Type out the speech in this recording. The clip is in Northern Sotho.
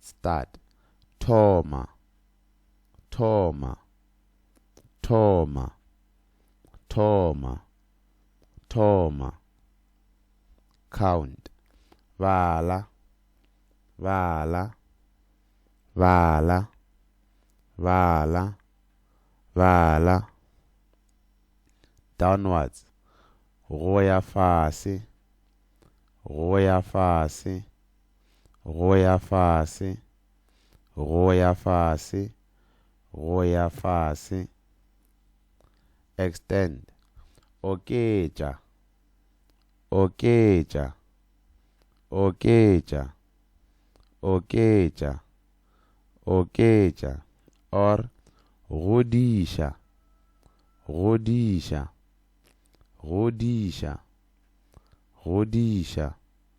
Start. Thoma. Thoma. Thoma. Thoma. Thoma. Count. Bala. Bala. Bala. Bala. Bala. Downwards. Go ya fase. Go ya fase. go ya fase, go ya fase, go ya fase. Extend, oketša, oketša, oketša, oketša, oketša, or godiša, godiša, godiša, godiša.